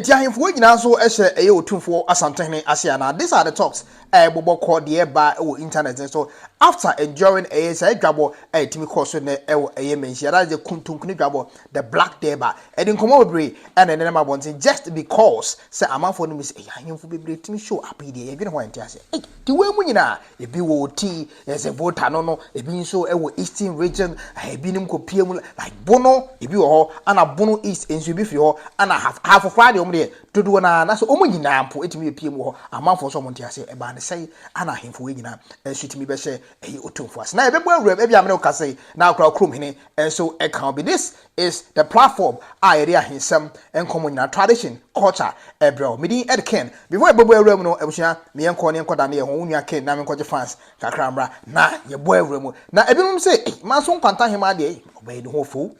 Enti ahemfo wɔ nyinaa nso hyɛ ɛyɛ Otumfoɔ Asantehene ase anaa? These are the talks a ɛbobɔ kɔ deɛ ɛba wɔ internet no so after and during ɛyɛ saa dwabɔ a ɛtumi kɔ so nnɛ wɔ ɛyɛ Manhyia that is the Kuntunkuni dwabɔ the Black Durbar ɛde nkɔmmɔ bebree na ɛnenam abɔnten just because sɛ amanfoɔ no nim sɛ ɛyɛ ahemfo bebree tumi show up yi deɛ yɛdwene ho a ɛnte aseɛ. Ei! Nti wei mu nyinaa Ebi wɔ Oti, ɛsɛ Volta no no, ebi nso wɔ Eastern region, ebinom kɔ pie mu like Bono, ebi wɔ hɔ, ana Bono East nso ebi firi hɔ, ana half, half koraa deɛ wɔn deɛ dodoɔ naa, na sɛ wɔn nyinaa mpo etumi yɛ pie mu wɔ hɔ, amanfoɔ nso wɔn nte aseɛ, ɛbaa ne sɛe, ana ahemfo wei nyinaa nso etumi bɛhyɛ ɛyi otumfo ase, na yɛbɛbɔ awuram, ebi amene wo kasa yi, na akora kurom hene nso ɛka obi, this is the platform a yɛde ahensɛm, nkɔmmɔ nyinaa, tradition, culture, ɛbrɛ wo. Me din Ed Ken. Before yɛbɛbɔ awura mu no, abusua, me yɛnkɔ ne yɛnkɔda ne yɛn ho, wo nua Ken, na menkɔgye fans kakra mmra, na yɛbɔ awura mu. Na ebinom se, ei, manso nkwanta ahemaa deɛ, ei, ɔbaa yi ne ho ɔfɛ o,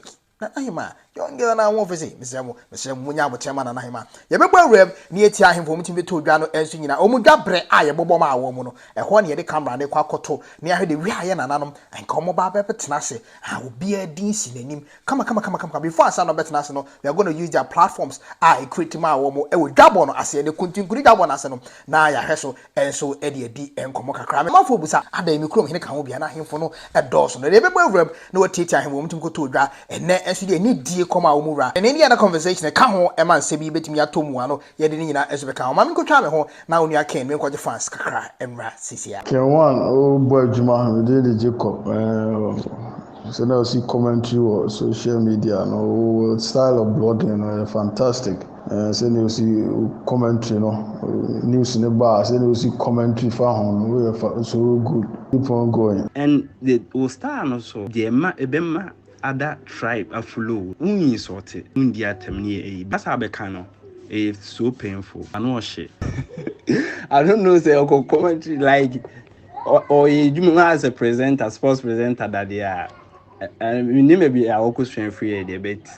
na ahemaa, young girl no a ho ɔfɛ sei, mesrɛ mo, mesrɛ mo, monyɛ aboteɛ ma nana ahemaa. Yɛbɛbɔ awura mu, na yɛatie ahemfo a wɔtumi de too dwa no nso nyinaa, wɔn dwa berɛ a yɛbɔbɔ maa wɔn no, ɛhɔ na yɛde camera no rekɔ akɔto, na yɛahwɛ deɛ wiaeɛ nananom, anka wɔbɛba abɛtena ase, a obiara din si n'anim kamakamakamakama before ansa na ɔbɛtena ase no they are gonna use their platforms a ɛcreate maa wɔn wɔ dwabɔ no aseɛ ne kuntinkuni dwabɔ no ase no na yɛahwɛ so nso de adi nkɔmmɔ kakra. Amanfoɔ bisa adɛn me kurom hene ka ho bia na ahemfo no dɔɔso no deɛ ɛbɛbɔ awuram na wɔatiatia ahemfo wɔn tumi kɔtɔɔ dwa ɛnnɛ nso deɛ anidie kɔm a wɔn wura ɛne ɛne yɛn conversation ka ho ma nsɛm yi bɛtumi atɔ mu ano Yɛde ne nyinaa nso bɛka ho. Ma menkɔtwa me ho na Onua Ken menkɔgye fans kakra mmra seesei ara. Ken one wo bɔ adwuma me din de Jacob ɛɛh sɛ na ɔsi commentary wɔ social media no wo style of blogging no ɛyɛ fantastic ɛɛh sɛ nea ɔsi commentary no news no ba a sɛ nea ɔsi commentary fa ho no wo yɛ fa so good keep on going. Ɛn de wo style no so deɛ ɛma ɛbɛma ada tribe afulow wo insɔlte wo ndi atɛm ne yɛ eyi basa bɛka no ɛyɛ so painful ano ɔhye I don't know sɛ ɔkɔ commentary like ɔyɛ adwuma mu as a presenter sports presenter dadeɛ a menim baabi a ɔkɔ sua firi yɛ deɛ but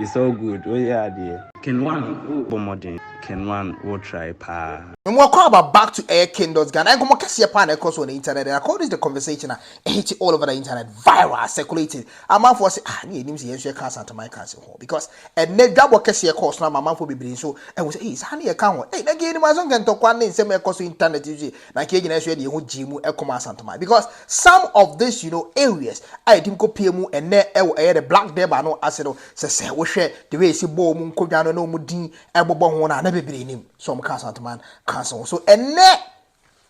it's all good woyɛ adeɛ. Ken one wo bɔ mmɔden. Ken one wo try paa. Mmoa kɔ aba back to ɛyɛ Ken Dotz Ghana nkɔmmɔ kɛseɛ paa na ɛkɔ so wɔ ne internet ɛna kɔ read the conversation a hit all over the internet viral circulating amanfoɔ sɛ ah ne yɛnim sɛ yɛn nso yɛka asanteman kanse ho because ɛnɛ dwabɔ kɛseɛ kɔɔ so no ama amanfoɔ bebree nso ahu sɛ ei saa ne yɛka ho ei na nka yɛnim aso nka ntɔkwa ne nsɛm ɛkɔ so internet so yi na nka yɛgyina so yɛde yɛn ho gyee mu ɛkɔma asanteman because some of this you know areas a yɛtim kɔpie mu ɛnɛ ɛwɔ ɛyɛ the black deba no ase no sɛ sɛ wohwɛ the way ɛsi bɔɔ mu nkɔdwa no na ɔmu din ɛbobɔ ho no a na bebree nim so ɔmo ka asanteman kanse ho so ɛnɛ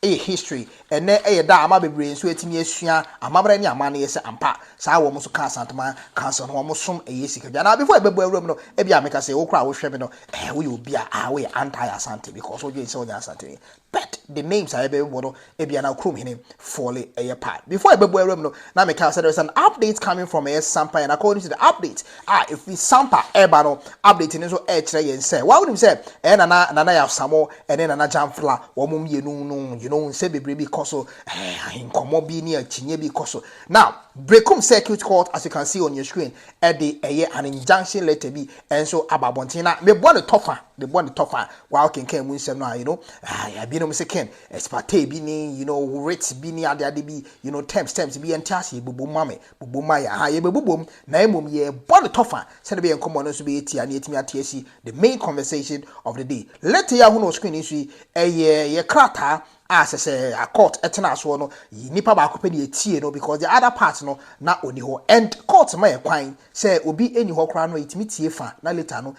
Ɛyɛ history. Ɛnnɛ ɛyɛ da a ama bebree nso atumi asua amammerɛ ne amanneɛ sɛ ampa saa wɔn nso ka Asanteman Council no wɔn som ɛyɛ sika dwa. Now before ɛbɛbɔ awura mu no ebia meka sɛ wo koraa a wohwɛ me no ɛɛ woyɛ obi a ah woyɛ anti Asante because wodwen sɛ wonyɛ Asanteni but the names a ɛbɛbɔ no ebia na kurom hene fɔle ɛyɛ part. Before ɛbɛbɔ awura mu no na meka sɛ there is an update coming from ɛyɛ Sampa and according to the update a ɛfiri Sampa ɛreba no update no nso ɛrekyerɛ yɛn sɛ woawonim sɛ ɛyɛ Nana Nana Yaw Samoh ɛne Nana Jamfla wɔn mmienu no you know nsɛm bebree bi kɔ so eh, ahenkɔmmɔ bi ne akyinnye bi kɔ so. Now Berekum Circuit Court as you can see on your screen ɛde ɛyɛ an injunction letter bi nso aba abɔnten na mebɔ ne tɔfa mebɔ ne tɔfa wa wokenkan mu nsɛm no a you know ah, binom se ken espate bi ne you know writ bi ne adeade bi you know terms terms bi yɛnte ase bobom ma me Bobom a yɛn ahaa yɛbɛbobom na mmom yɛrebɔ no tɔfa sɛdeɛ ɛbɛyɛ nkɔmmɔ no nso bɛyɛ tia na yɛatumi ate asi the main conversation of the day. Letter yi a wohunu wɔ screen yi so yi, ɛyɛ yɛn krataa a sɛ sɛ a court tenaa soɔ no, nnipa baako pɛ na yɛtie no because the other part no na ɔni hɔ and court ma yɛn kwan sɛ obi nni hɔ koraa no yɛtumi tie fa na later no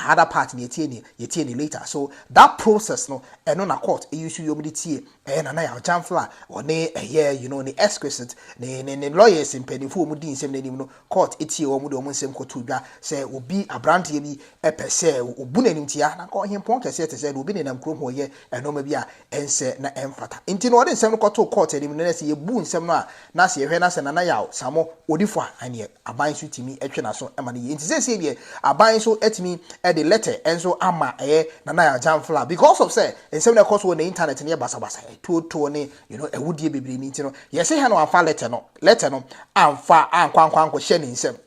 other part no yɛtie ne yɛtie ne later. So that process no, ɛno na court use yom de tie Ɛyɛ Nana Yaw Gyamfla a ɔne ɛyɛ you know ne exquisite ne ne ne lawyers mpanyinfo wɔn di nsɛm no anim no court tie wɔn de wɔn nsɛm kɔtoo dwa sɛ obi abranteɛ bi pɛ sɛ obu no animtia na anka ɔhempɔn kɛseɛ te sɛ deɛ obi nenam kurom hɔ yɛ nnoɔma bi a ɛnsɛ na ɛmfata nti no ɔde nsɛm no kɔtoo court anim no na sɛ yɛbu nsɛm no a Na sɛ yɛhwɛ na sɛ Nana Yaw Samoh ɔdi fɔ a, ɛneɛ aban nso tumi twe n'aso ma no yie. Nti seesei deɛ aban nso atumi de lɛtɛ nso ama ɛyɛ Nana Yaw Jamfla because of sɛ nsɛm no a ɛkɔ so wɔ ne intanɛt no yɛ basabasa, atuotuo ne you know, awudie bebree no nti no, yɛse hɛn wamfa lɛtɛ no, lɛtɛ no amfa ankɔ ankɔ ankɔhyɛ ne nsam.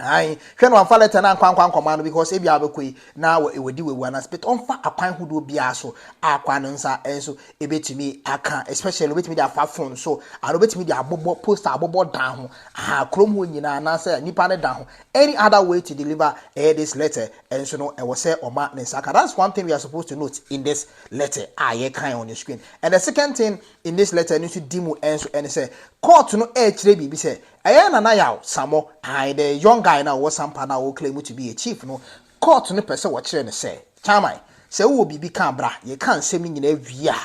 Ae, hwɛ na wamfa lɛtɛ no ankɔ ankɔ ankɔma no because ebi a wabɛkɔ yi na wadi wawu anaa spit. Ɔmfa akwan hodoɔ biara so a akwan no nsa nso ebetumi aka especially obetumi de afa phone so ana obetumi de abobɔ poster abobɔ dan ho aha kurom hɔ nyinaa anaasɛ nipa ne dan ho any other way to deliver eh, this letter nso no ɛwɔ sɛ ɔma ne nsa ka that's one thing we are supposed to note in this letter a yɛkan on the screen and the second thing in this letter no nso di mu nso ɛne sɛ court no ɛrekyerɛ biribi sɛ Ɛyɛ na na yaw Sammɔ, ae, the young guy no a ɔwɔ Sampa no a ɔreclaim to be a chief no, court no pɛ sɛ wɔkyerɛ no sɛ, Chairman, sɛ wowɔ biribi ka a bra, yɛka nsɛm no nyinaa wie a,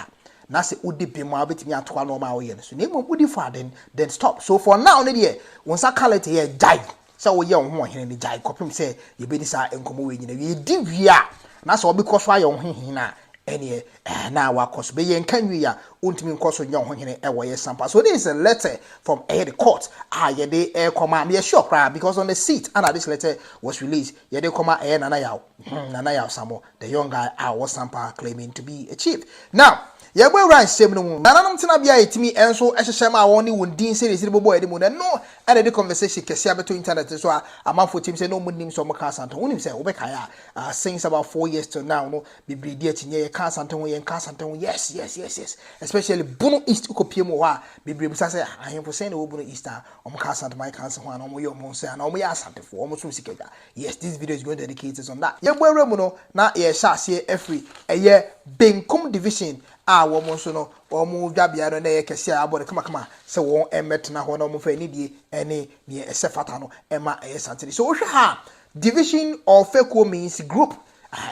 na sɛ wode bem a wobɛtumi atoa nnoɔma a woyɛ no so, na mmom wodi fɔ a then, then stop, so for now no deɛ, wo nsa ka late yɛ, gyae sɛ woyɛ wo ho ɔhene no, gyae kɔpem sɛ yɛbɛdi saa nkɔmmɔ wei nyinaa wie, yɛdi wie a, na sɛ wobɛkɔ so ayɛ wo ho hene no a, ɛneɛ. Ɛɛ na wakɔ so bɛyɛ nka nwie a ɔntumi nkɔ so nyɛ ɔhohene wɔ yɛ sampa so this is a letter from ɛyɛ the court a yɛde rekɔma meyɛ sure koraa because on the seat ana this letter was released yɛde rekɔma ɛyɛ Nana Yaw hmm Nana Yaw Samo the young guy a ɔwɔ sampa claiming to be a chief now yɛbɔ awura nsɛm no mu nananom tenabea a yɛtumi nso hyehyɛ ma wɔn ne wɔn din sɛdeɛ ɛsi de bobɔ yɛde mu no ɛno ɛna ɛde conversation kɛseɛ abɛto internet no so a amanfoɔ tim sɛ na wɔn nim sɛ wɔn ka asantɔ wonim sɛ wobɛkae a uh, since about four years till now no Bebree di akyi nyɛ yɛ ka asante ho yɛ nka asante ho yes yes yes yes especially bono east wokɔ pie mu wɔ hɔ a bebree bisa sɛ ahemfo sɛn na wɔ bono east a wɔn ka asante my kanse ho ana wɔn yɛ wɔn sɛ ana wɔn yɛ asantefo wɔn so sika dwa yes this video is going to educate us on that yɛn bɔ awura mu no na yɛ hyɛ aseɛ afiri ɛyɛ benkum division a wɔn nso no wɔn dwa bea no na yɛ kɛse a abɔ no kama kama sɛ wɔn mmɛtena hɔ na wɔn fɛ ne die ɛne neɛ ɛsɛ fata no ɛma ɛyɛ santene so wohwɛ ha division or fekuo means group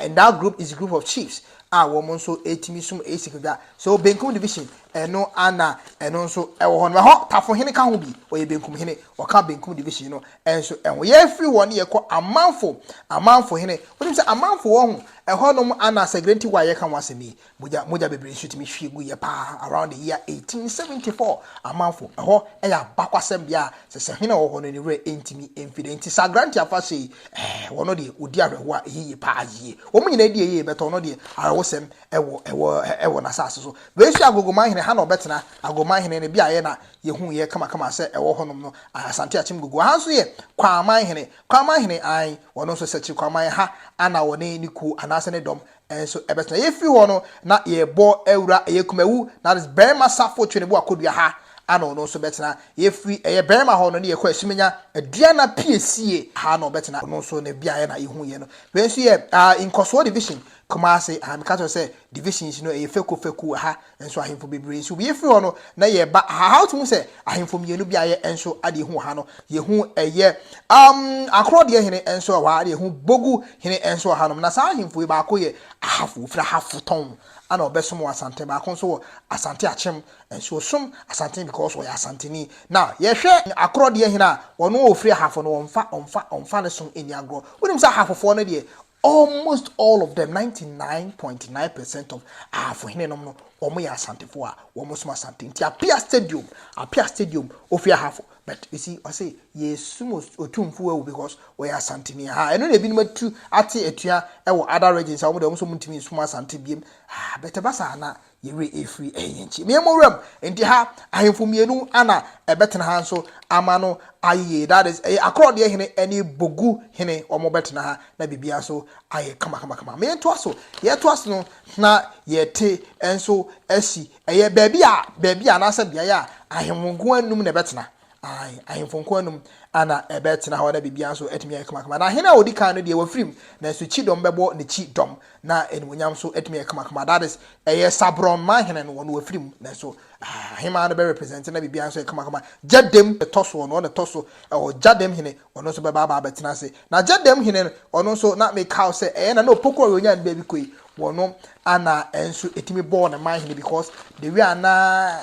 And that group is group of chiefs a wɔn nso ɛtumi som ɛyɛ sikadwa so benkum division ɛno ana ɛno nso ɛwɔ hɔ no ɛhɔ tafo hene ka ho bi ɔyɛ benkum hene ɔka benkum division no ɛnso ɛho yɛfiri hɔ ne yɛkɔ amanfo amanfo hene wonim sɛ amanfo wɔ ho ɛhɔ nom ana sɛ grenti wa yɛka ho asɛm yi Mogya mogya bebree nso tumi hwie guiɛ paa around the year 1874 amanfo ɛhɔ ɛyɛ abakwasɛm bea a sɛ sɛ hene a ɔwɔ hɔ no ne werɛ ɛntumi ɛmfi da nti saa grant afa sɛ yi ɛɛ wɔ no deɛ ɔdi awerɛhoɔ a ɛyɛ yie paa yie wɔn nyinaa di ɛyɛ bɛtɔ no deɛ awerɛhosɛm ɛwɔ ɛwɔ ɛwɔ n'asase so wei nso yɛ agogoman hene ha na ɔbɛtena agogoman hene no beaeɛ na yɛhu yɛ kamakama sɛ ɛwɔ hɔnom no asante akyem gogo ha nso yɛ kwaman hene kwaman hene an wɔn nso sɛ kyiri kwaman ha ana wɔne ne kuo anaasɛ ne dɔm Nso ɛbɛso na yɛfiri hɔ no na yɛrebɔ awura ɛyɛ Kumawu, na that is Barima Safo Tweneboa Kodua ha, ana ɔno nso bɛtena. Yɛfiri ɛyɛ Barima hɔ no ne yɛkɔ Asumenya, Aduana piesie, ha na ɔbɛtena, ɔno nso ne beaeɛ na yɛhuiɛ no. Wei nso yɛ ah Nkɔsoɔ Division, Kumasi, aha meka kyerɛ wo sɛ divisions no ɛyɛ fɛkuo fɛkuo, aha. Nso ahemfo bebree nso wie firi hɔ no na yɛba aha ha wotumi hu sɛ ahemfo mmienu bi a yɛ nso adeɛ hu wɔ ha no yɛhu ɛyɛ um, akorɔ deɛ hene nso wɔ ha na yɛhu bogu hene nso wɔ ha nom na saa ahemfo yi baako yɛ ahafo ofiri ahafo tɔn ana ɔbɛsom wɔ asante baako nso wɔ asante akyem nso ɔsom asante because ɔyɛ asanteni na yɛhwɛ akorɔ deɛ hene a wɔn a ofiri ahafo no wɔmfa wɔmfa wɔmfa ne som ɛni agorɔ wonim sɛ ahafofoɔ no deɛ Almost all of them, 99.9 percent of Ahafo henenom no, wɔyɛ Asantefo a wɔsom Asante. Nti Apia Stadium, Apia Stadium, ofi Ahafo. But you see, ɔse yɛsum Otumfo awu because wɔyɛ Asanteni. Ha, ɛno na ebinom atu ate atua wɔ other regions a wɔn de wɔn nso wɔntumi nsum Asante biem. Ah, but ɛba saa na Yɛn werɛ afiri ɛhe yɛn nkyɛn. Meyɛ mo wuram, enti ha, ahemfo mmienu na ɛbɛtena ha nso ama no ayɛ yie. That is, ɛyɛ akorɔdeɛ hene ne bogu hene, wɔbɛtena ha na biribiara nso ayɛ kamakamakama. Me ntoa so, yɛtoa so no na yɛte nso asi. Ɛyɛ baabi a, baabi a anaasɛ beaeɛ a ahemfo nko ara nnum na ɛbɛtena. Ae, ahemfo nko anum na ɛbɛtena hɔ na biribiara nso atumi ayɛ kamakama. Na hene a ɔdi kan no deɛ wafirim, nanso kyidɔm bɛbɔ n'akyi dɔm, na animuonyam nso atumi ayɛ kamakama. That is, ɛyɛ Sabrɔn ma hene no, ɔno wafirim, nanso ah, ahemmaa no bɛrepresente na biribiara nso ayɛ kamakama. Gyadam ɛtɔ so, ɔno ɔna ɛtɔ so ɛwɔ gyadam hene, ɔno nso bɛba aba abɛtena ase. Na gyadam hene no, ɔno nso na mekaw sɛ ɛyɛ na na Opoku a ɔyɛ onyan baabi kɔ yi, wɔno Ana nso ɛtumi bɔɔ ne man hene because the way a na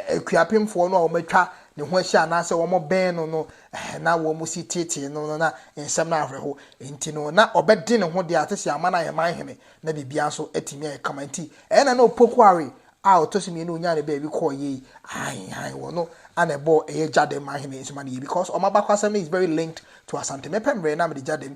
akuapemfoɔ no a wɔatwa ne ho ahyia anaasɛ wɔbɛn no no na wɔn si teetee no no na nsɛm no awerɛho nti no na ɔbɛde ne ho deɛ ate sɛ ama no ayɛ man hene na biribiara nso atumi ayɛ kama nti ɛyɛ na na opoku awe a ɔtɔ so mmienu onyaa ne baabi kɔɔ yie yi ahan han wɔ no ana ɛbɔɔ ɛyɛ gyadɛm man hene nso ma no yie because ɔma bakwasɛm no is very linked to asante mepɛ mmerɛ na mede gyadɛm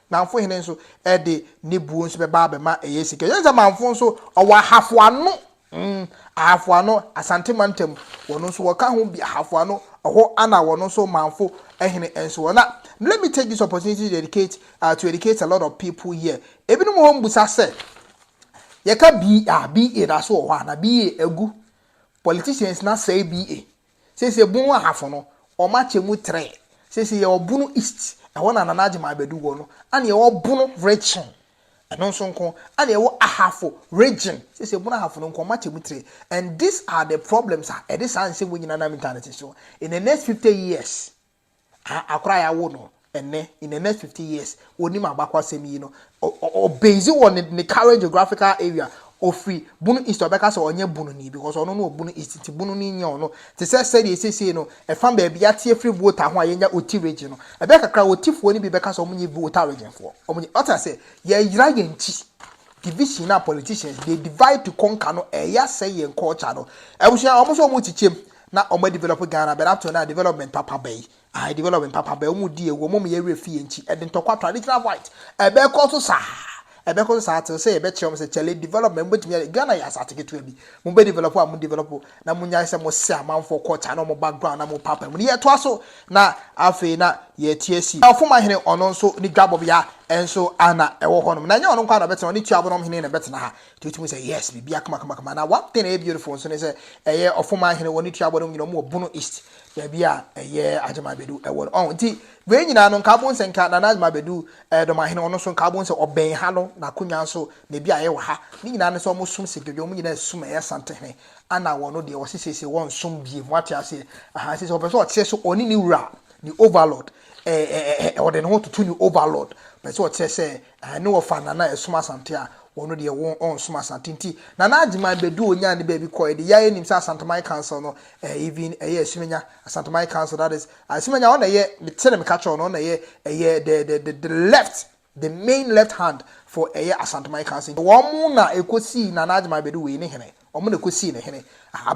Namfo hene nso de ne buo nso bɛba abɛma ɛyɛ sika. Yɛn sɛ Manfo nso, ɔwɔ Ahafo Ano. Mm, Ahafo Ano, Asante Mantam, wɔn nso wɔka ho bi, Ahafo Ano, ɛhɔ ana wɔn nso Manfo hene nso wɔ. Na let me take this opportunity to educate, uh, to educate a lot of people here. Ebinom wɔ hɔ mbusa sɛ, yɛka BA, BA da so wɔ hɔ a, na BA agu. Politicians na sɛe BA. Seisei bon ahafo no wɔn akyɛ mu trɛ. Seisei yɛwɔ bono east, ɛhɔ na Nana Agyeman Badu wɔ no, ɛna yɛwɔ bono region, ɛno nso nko, ɛna yɛwɔ ahafo region, seisei bono ahafo no nko, wɔn akyɛ mu trɛ. And these are the problems a ɛde saa nsɛm wei nyinaa nam internet so in the next fifty years. A Akora a yɛawo no ɛnnɛ, in the next fifty years, onim abakɔsɛm yi no. Ɔ ɔ ɔbase wɔ ne ne current geographical area. Ofiri Bono East, ɔbɛka sɛ ɔnyɛ Bononi because ɔno no wɔ Bono East nti Bono no nyɛ ɔno. Te sɛ sɛdeɛ seesei no ɛfa baabi yɛate afiri Volta ho a yɛanya Oti region no, ɛbɛyɛ kakra a Otifoɔ no bi bɛka sɛ wɔnyɛ Volta region foɔ. Wɔnyɛ. Wate aseɛ? Yɛyera yɛn akyi. Division no a politicians they divide to conquer no ɛyɛ asɛe yɛn culture no. Abusua, wɔn nso wɔkyekyem. na ɔmo adevelɔpe Ghana but up till now development papa bɛn? Ae development papa bɛn? Ɔmo di awu, ɔmo ma yɛn werɛ fi yɛn ti, ɛde ntɔkwa, traditional fight, ɛbɛkɔ so saa, ɛbɛkɔ so saa till sɛ yɛbɛkyerɛ ɔmo sɛ kyale development mobɛtumi ayɛ, Ghana yɛ asaase ketewa bi, mobɛ develop a mo develop na monyae sɛ mo sɛ amanfoɔ culture ne ɔmo background na mo paapae mu no yɛtoa so na afei na yɛte asi. Ɔfoma hene ɔno nso ne dwabɔbea nso a na ɛwɔ hɔnom na ɛnyɛ ɔno nko ara na ɔbɛtena hɔ, ne Tuabonom hene na ɛbɛtena ha, nti wotumi sɛ yes biribi akama kama kama na one thing ɛyɛ beautiful nso ne sɛ ɛyɛ ɔfoman hene wɔ ne tuabɔ no nyina mu wɔ bono east baabi a ɛyɛ agyema bɛdu ɛwɔ no ɔn nti wei nyinaa no nka abon sɛ nka nana agyema bɛdu ɛɛ dɔma hene ɔno nso nka abon sɛ ɔbɛn ha no na akonnwa nso na ebi a ɛyɛ wɔ ha ne nyinaa no sɛ wɔn som sɛ dwodwo wɔn nyinaa sum ɛyɛ sante hene ana wɔn no deɛ wɔsi siesie wɔn som bie mu ate aseɛ ahan sisi ɔpɛ sɛ ɔteɛ so ɔne ne wura ne overlord ɛɛ ɛɛ ɔde ne ho toto ne overlord pɛ sɛ ɔteɛ sɛ Ɛɛ ne wɔfaa Nana ɛsom Asante a wɔno deɛ won ɔnsom Asante nti Nana Agyeman bɛduu onyaa ne baabi kɔɛ de yɛa yɛnim sɛ Asanteman Council no ɛɛ even ɛyɛ Asumenya Asanteman Council that is Asumenya ɔna ɛyɛ mete ne meka kyerɛw no ɔna ɛyɛ ɛyɛ the the the the left the main left hand for ɛyɛ Asanteman Council nti wɔn na ɛkɔsii Nana Agyeman bɛdu wei ne hene Wɔn na ɛkɔsii no hene.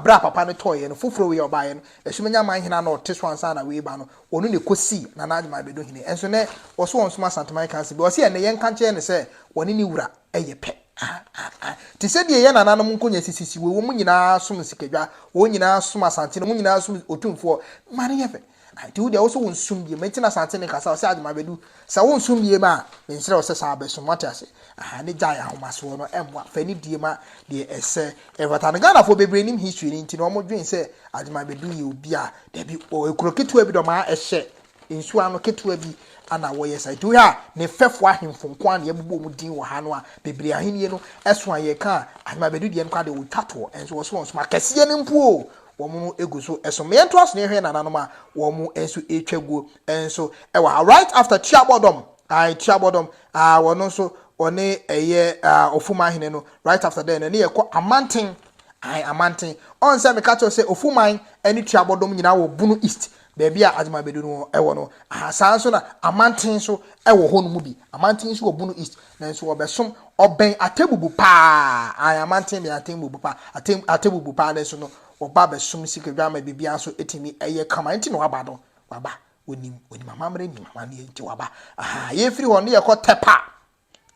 Berɛ a papa no tɔeɛ no, foforɔ wei a ɔbaeɛ no, Asumennya man hene a na ɔte so ansa na wei reba no, ɔno na ɛkɔsii Nana Agyemang bɛdu hene. Nso nnɛ, wɔse wɔnsom Asanteman Council bio. Ɔse ɛnnɛ, yɛnka nkyerɛ no sɛ wɔne ne wura yɛ pɛ. Ah-ah-ah. Te sɛ deɛ yɛn nananom nkonnwa sisisi wei, wɔn nyinaa som nsikadwa, wɔn nyinaa som Asante, na wɔn nyinaa som Otumfoɔ. Ma no yɛ fɛ. Nti wo deɛ wo se wo nsom biem, nti na Asante no kasa, ɔse Agyeman Badu, sɛ wo nsom biem a, me nsrɛ wo sɛ saa bɛsom, wate ase, ahaa, ne gyae ahomasoɔ no, ɛmmoa, fa anidie ma deɛ ɛsɛ, ɛfata no, Ghanafoɔ bebree nim history no, nti na wɔn dwen sɛ Agyeman Badu yɛ obi a, dabi, ɔ, ekuro ketewa bi na wɔn a ɛhyɛ nsuo ano ketewa bi na wɔyɛ saa, nti wo hwɛ a, ne mfɛfoɔ ahemfo nko ara na yɛabubu wɔn din wɔ ha no a, bebree ahennie no so a yɛka a, Agyeman Badu deɛ no koraa deɛ, ɔtwa toɔ, nso wɔse ɔnsom akɛseɛ no mpo o, wɔn no gu so so. Ma yɛntoa so na yɛhwɛ yɛn nananom a wɔn nso retwa guo nso wɔ ha. Right after Tuabɔdɔm, ae, Tuabɔdɔm, ah, wɔn nso wɔne ɛyɛ ah, Ofumahene no, right after then, ɛne yɛkɔ Amanten, ae, Amanten. Ɔn sɛ meka kyerɛw sɛ Ofuman ne Tuabɔdɔm nyinaa wɔ Bono East, Baabi a Adwuma Bedu no wɔ no, aha saa nso na Amanten nso wɔ hɔ no mu bi. Amanten nso wɔ Bono East, nanso wɔbɛsom, ɔbɛn Atebubu paa, ae, Amanten bɛn Atebubu paa, Ate, Atebubu paa, nanso no, wɔba bɛsom Sikadwamma, biribiara nso tumi yɛ kama, nti na waba no, waba, wɔnim, wɔnim amammerɛ, nim amanneɛ, nti waba, aha, yɛfiri hɔ no yɛkɔ Tɛpa.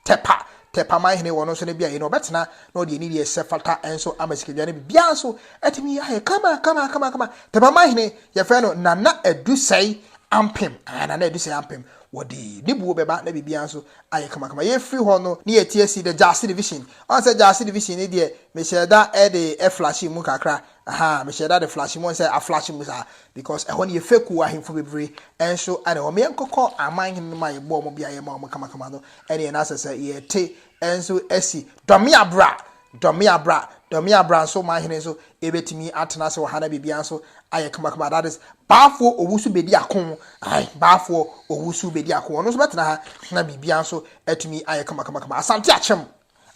Tɛpa, Tɛpa man hene wɔ no nso ne beaeɛ no ɔbɛtena na ɔde anidie ɛsɛ fata nso ama sikadwa no biribiara nso atumi ayɛ kama kama kama kama Tɛpa man hene yɛfrɛ no Nana Adusɛe Ampem ah Nana Adusɛe Ampem wɔde ne buo bɛba na biribiara nso ayɛ kama kama yɛfiri hɔ no ne yɛti asi the Gyasi division ɔn sɛ Gyasi division ne deɛ mehyɛ da ɛde ɛflashe mu kakra Ahaa mehyɛ da de flash mu sɛ aflash mu saa because ɛhɔ no yɛ fekuo ahemfo bebree nso na ɛhɔ meɛnkɔkɔ aman hene no ma yɛbɔ ɔmo beaeɛ ma ɔmo kamakama no ɛneɛ na asɛ sɛ yɛte nso asi dɔme abra dɔme abra dɔme abra nso ɔman hene nso ɛbɛtumi atena ase wɔ ha na biribiara nso ayɛ kamakama that is baafoɔ owu so bɛdi ako ae baafoɔ owu so bɛdi ako ɔno nso bɛtena ha na biribiara nso atumi ayɛ kamakama kama asante akyɛm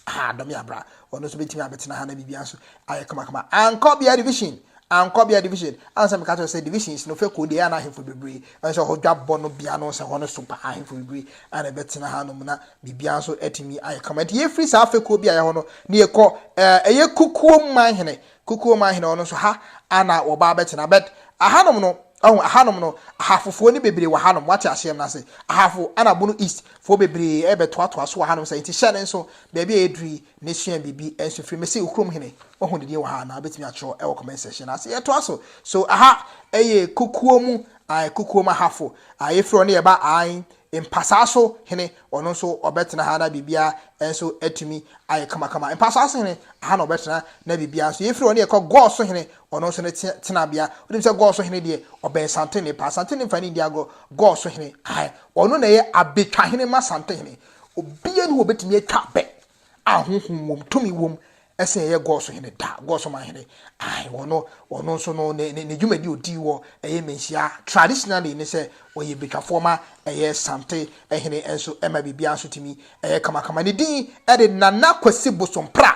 Ah, dɔ me abra. Ɔno nso bɛtumi abɛtena ha na biribi nso ayɛ kamakama. Ankɔ bea division. Ankɔ bea division. Ansa meka kyerɛ sɛ divisions no fɛ kɔ deɛ ana ahemfo bebree. Ɛno sɛ hɔ dwabɔ no bea no sɛ hɔ no so paa ahemfo bebree ana ɛbɛtena ha nom na biribi nso atumi ayɛ kama. Nti yɛfiri saa fɛ kɔ bi a yɛhɔ no na yɛkɔ ɛyɛ kukuo man hene Kukuo man hene ɔno nso ha a na wɔba abɛtena but ahanom no wahu ahanom no ahafofoɔ no bebree wɔ hanom wate aseɛm na se ahafo ana bono east foɔ bebree ɛbɛtoatoa so wɔ hanom sɛ nti hyɛ no nso baabi a ɛduru yi ne sua biribi nso firi mese wo kurom hene wahu ne din wɔ ha anaa wobɛtumi atwerɛ ɛwɔ comment section no ase yɛtoa so so aha ɛyɛ kukuo mu ae kukuo mu ahafo ae yɛfiri ɔne yɛba ae Mpasaa so hene, ɔno nso ɔbɛtena ha na biribiara nso atumi ayɛ kamakama. Mpasaa so hene, aha na ɔbɛtena na biribiara nso yɛ. Firi hɔ no yɛkɔ Gɔɔ so hene, ɔno nso ne tenabea. Wonim sɛ Gɔɔ so hene deɛ, ɔbɛn Santene paa. Santene mfa ne nni agorɔ. Gɔɔ so hene, ae, ɔno na ɛyɛ abɛtwahene ma Santehene. Obiara nni hɔ a ɔbɛtumi atwa abɛ a honhom wom, tumi wom Ɛsen ɛyɛ Gɔs hene da, Gɔs man hene, ae, ɔno, ɔno nso no, ne, ne, ne dwumadi a ɔdii wɔ ɛyɛ Menhyia, traditionally, ne sɛ ɔyɛ Betwafoɔ ma ɛyɛ Sante hene nso ɛma biribiara nso tumi ɛyɛ kamakama. Ne din de Nana Kwasi Bosompra,